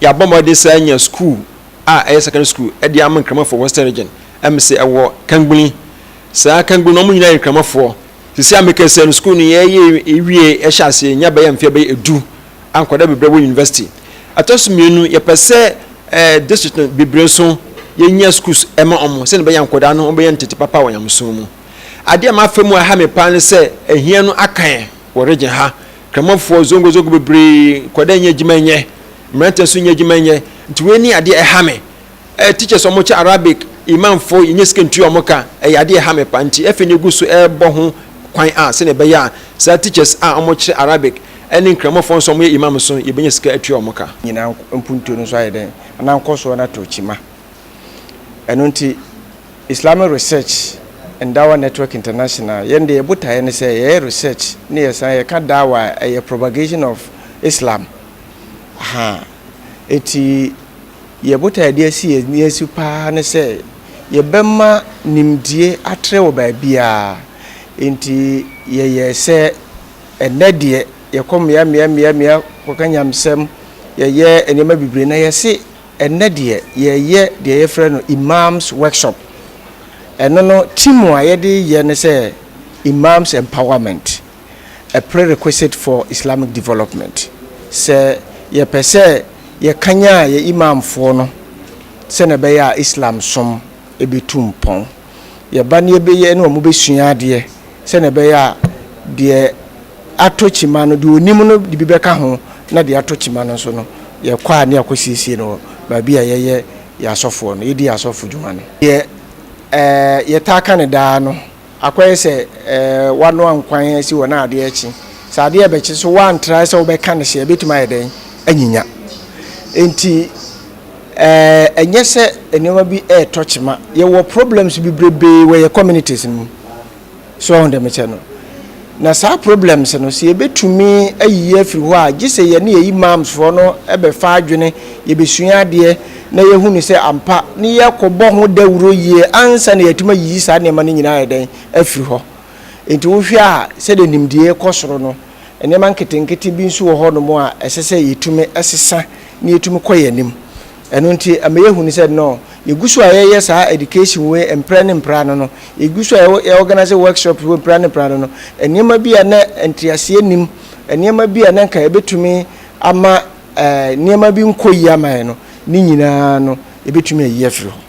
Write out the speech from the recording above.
Yɛabɔ mmɔden sɛ anya sukuu a ɛyɛ secondary school de ama Nkramofo wɔ Western Region. Ɛm sɛ ɛwɔ Kangbuni. Saa Kangbuni no, wɔn nyinaa yɛ Nkramofoɔ. Seesei a mekasa yi no, sukuu no yɛreyɛ awie, yɛhyɛ aseɛ, nya bɛyɛ mfeɛ bɛyɛ edu a nkwadaa bebree wɔ university. Ɛtɔ so mmienu, yɛpɛ sɛ eh, district no bebree nso yɛnya schools ɛma wɔn sɛdeɛ ɛbɛyɛ a nkwadaa no wɔbɛyɛ ntete papa wɔ nyamesom mu. Adeɛ a mafa mu a ɛha me paa ne sɛ ɛhia no akan wɔ region ha. Kramanfoɔ zongo zongo bebree, nkwadaa nyɛ adwuma nyɛ, mmeranteɛ nso nyɛ adwuma nyɛ, nti wei ne adeɛ ɛha me. Eh, teachers wɔn kyɛ Arabic, imamfoɔ yɛnyɛ sika ntua wɔn ka, ɛyɛ adeɛ ɛha me pa, nti afei na egu so ɛrebɔ ho kwan a sɛnea ɛbɛyɛ a saa teachers a wɔn kyerɛ Arabic ɛne Nkramanfoɔ nso a wɔn yɛ imam nso yɛbɛnya sika atua wɔn ka. Nyinaa mpuntuo no nso ayɛ dɛn? Anaa nkɔsoɔ no atɔ kyima? Ɛno nti, Islamic Research and Dawah Network International, yɛn deɛ yɛn botaeɛ ne sɛ yɛyɛ research ne yɛsan yɛka Dawah a ɛyɛ propagation of Islam. Ahaa. Enti yɛn botaeɛ a yɛde asi yɛn ani asi pa ara ne sɛ yɛbɛma nimdie atrɛ wɔ baabiara. Enti yɛyɛ sɛ ɛnnɛ deɛ yɛkɔ mmea mmea mmea mmea kɔka nyamesɛm, yɛyɛ nneɛma bebree na yɛse, Ɛnnɛ deɛ yɛyɛ deɛ yɛfrɛ no Imams workshop. Ɛno no team a yɛde yɛ ne sɛ Imams empowerment, a prerequisite for Islamic development. Sɛ yɛpɛ sɛ yɛkanyan yɛn Imamfoɔ no sɛdeɛ ɛbɛyɛ a Islam som bɛtu mpɔn. Yɛba na yɛbɛyɛ na wɔbɛsua adeɛ sɛnea ɛbɛyɛ a deɛ atɔ kyima no, deɛ ɔnim no de bi bɛka ho, na deɛ atɔ kyima no nso no, yɛkɔ a ne yɛakɔsiesie no wɔ baabi a yɛyɛ yɛn asɔfoɔ no, yɛdi yɛn asɔfo dwuma no. Deɛ yɛtaa ka no daa no, akɔyɛ sɛ woanoa nkwan asi hɔ na adeɛ rekye. Sɛ adeɛ rebɛkye nso woantra sɛ wobɛka no hye a, ɛbɛtumi ayɛ dɛn? Anyinya. Enti. Ɛɛ ɛnyɛ sɛ nneɛma bi retɔ kyema yɛwɔ problems bebrebee wɔ yɛ communities no mu so ɔho dɛmekyɛ no na saa problems no sɛ yɛbɛtumi ayiyi afiri hɔ a gye sɛ yɛne yɛ imams foɔ no bɛfa adwene yɛbɛsua adeɛ na yɛhu no sɛ ampa ne yɛkɔbɔ ho dawuro yie ansa na yɛatumi ayiyi saa nneɛma no nyinaa yɛdɛn afiri hɔ nti wohwɛ a sɛdeɛ nimdie kɔ soro no Nneɛma nketenkete bi nso wɔ hɔnom a ɛsɛ sɛ yetumi sesa na yetumi kɔ yɛn anim. Ɛno nti, ɛma yehu no sɛ, nnɛ, yegu so a yɛyɛ saa education wei mprɛ ne mprɛ ano no, yegu so a yɛ organise workshops wei mprɛ ne mprɛ ano no, nneɛma bi a na nteaseɛ nnim, nneɛma bi a na nka ɛbɛtumi ama nneɛma bi nkɔ yie ama yɛn no, ne nyinaa no, yɛbɛtumi ayi afiri hɔ.